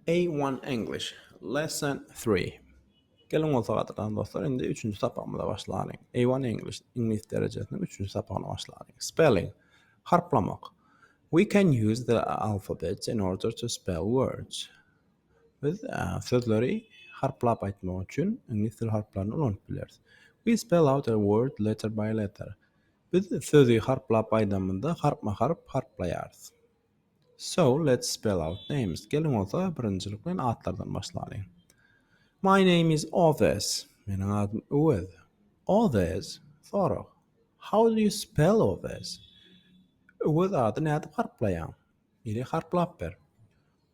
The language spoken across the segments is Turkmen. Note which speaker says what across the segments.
Speaker 1: A-one English, Lesson three. Geliň bolsa gadyran dostlar, indi üçünji sapagymyza başlalyň. A-one English, Iňlis derejesiniň üçünji sapagyna başlalyň. Spelling, Harplamak. We can use the alphabet in order to spell words. Biz sözleri harplap aýtmak üçin iňlis dil harplaryny ulanyp bileris. We spell out a word letter by letter. Biz sözi harplap aýdamyzda harpma-harp harplaýarys. So, let's spell out names. Geliň bolsa, birinjilik bilen atlardan başlalyň. My name is Owes. Meniň adym Öwez. Owes, sorag. How do you spell Owes? Öwez ady nädip harplaýaň? Ili harplap ber.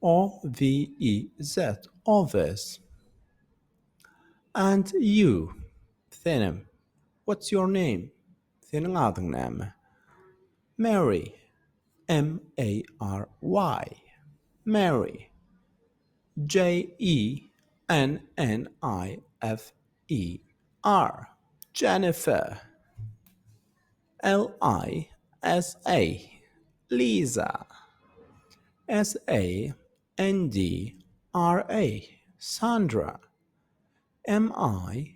Speaker 1: O, V, E, Z, Owes. And you, senem. What's your name? Seniň adyň näme? Mary. M-A-R-Y, Mary, J-E-N-N-I-F-E-R, Jennifer, L-I-S-A, Lisa, S-A-N-D-R-A, Sandra, M-I-C-H-E-L-L-E.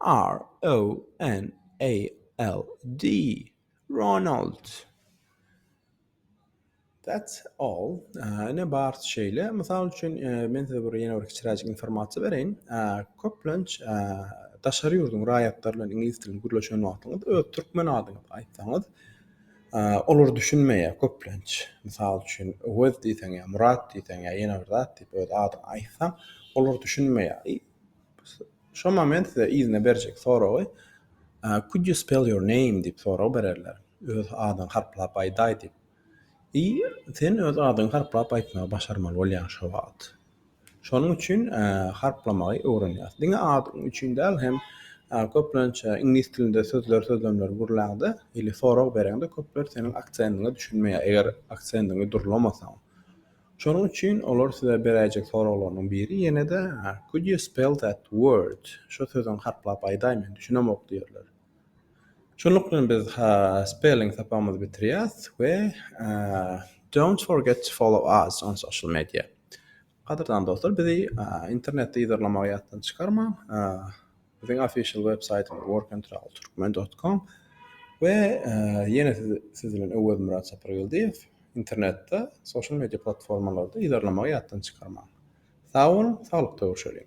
Speaker 1: R-O-N-A-L-D, Ronald. That's all. Ine, barsy şeýle. Mysal üçin, men size bir ýene bir kiçiräjik informasiýa bereýin. Köplenç, daşary ýurduň raýatlary bilen iňlis dilinde gürleşen wagtyňyz, öz türkmen adyňyzy aýtsaňyz, olar düşünmeýär köplenç. Mysal üçin, Öwez diýseň ýa Murat diýseň ýa ýene bir zat diýip öz adyňy aýtsaň, olar düşünmeýär. Şonda men size yzyna berjek soragy Could you spell your name diýip sorag bererler. Öz adyňy harplap aýdaý diýip. I sen öz adyňy harplap aýtmagy başarmaly bolýaň şo wagt. Şonuň üçin harplamagy öwrenýäs. Diňe adyň üçin däl hem köplenç iňlis dilinde sözler sözlemler gürläňde ili sorag bereňde köpler seniň aksendiňe düşünmeýär eger aksendiňi durlamasaň. Şonuň üçin olar size beräýjek soraglarynyň biri ýene-de Could you spell that word? Şo sözüňi harplap aýdaý men düşünemok diýerler. Şunluk bilen biz spelling sapagymyzy bitirýäs we Don't forget to follow us on social media. Gadyrdan dostlar bizi internetde yzarlamagy ýatdan çykarmaň. Biziň official web saýtymyz workandtravelturkmen dot com we ýene siz bilen Öwezmyrat Sapargeldiýew internetde social media platformalarda yzarlamagy ýatdan çykarmaň. Sag boluň, saglykda görşeliň.